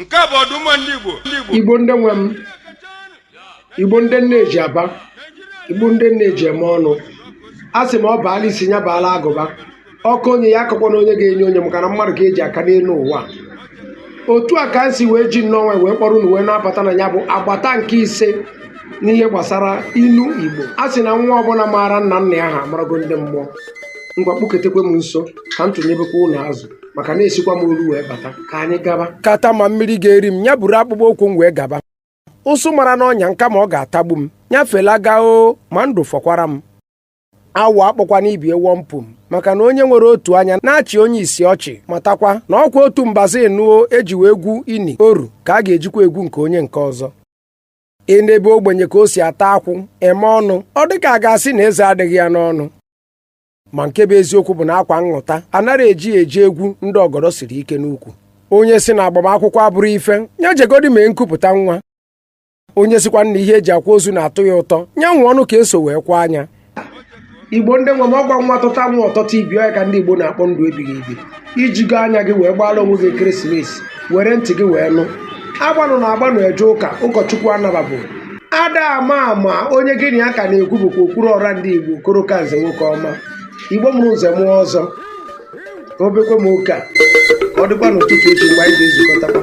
nke a bụ ọdụmma ndị Igbo ndị Igbo igbo ndị nwe m igbo ndị nne eji aba igbo ndị nne eji eme ọnụ a sị ma ọ baala isi ya baala agụba ọ kọọ onye ya akọkwana onye ga-enye onye maka na mmadụ ka eji aka n'elu ụwa otu a ka m si wee ji nnọọ wee kpọrọ unu wee na-abata na ya bụ agbata nke ise n'ihe gbasara ilu igbo a sị na nwa ọbụla maara nna nna ya ha amarago ndị mmụọ ngwa kpụketekwe m nso ka m tụnyebekwa unu azụ maka na esikwa m olu wee bata ka anyị gaba kata ma mmiri ga-eri m ya buru akpụkpọ ụkwụ m wee gaba ụsụ mara n'ọnya m kama ọ ga-atagbu m nya fela gaa o ma ndụ fọkwara m awọ akpọkwana ibi ewọ mpụ m maka na onye nwere otu anya na-achị onye isi ọchị matakwa na ọkwa otu mbazụ nụo eji wee gwu ini oru ka a ga-ejikwa egwu nke onye nke ọzọ i nebe ogbenye ka o si ata akwụ eme ọnụ ọ dịka a ga-asị na eze adịghị ya n'ọnụ ma nke bụ eziokwu bụ na akwa nṅụta anaghị eji ya eje egwu ndị ọgọdọ siri ike n'ukwu onye si na agbamakwụkwọ abụrọ ife ya jegodi mee nkupụta nwa onye sikwa na ihe eji akwa ozu na-atọ ya ụtọ nya nwụọnụ ka eso wee kwaa nya igbo ndị nwe m ọkwa nwa tụta nwa ọtọta ibe ọ ya ka ndị igbo na-akpọ ndụ ebighị ebi i jigo anya gị wee gbaara onwe gị christmas were ntị gị wee nụ agbanụ na agbanụ eje ụka ụkọchukwu anababụ ada ama ama onye gị na ya ka na-ekwu bụkwa okwuru ọra ndị igbo okoro ka nze nwoke ọma igbo mụrụ nze mụọ ọzọ ka o bekwa m oke a ọ dịkwa n'ụtụtụ echi mgbe anyị ga-ezukọtakwa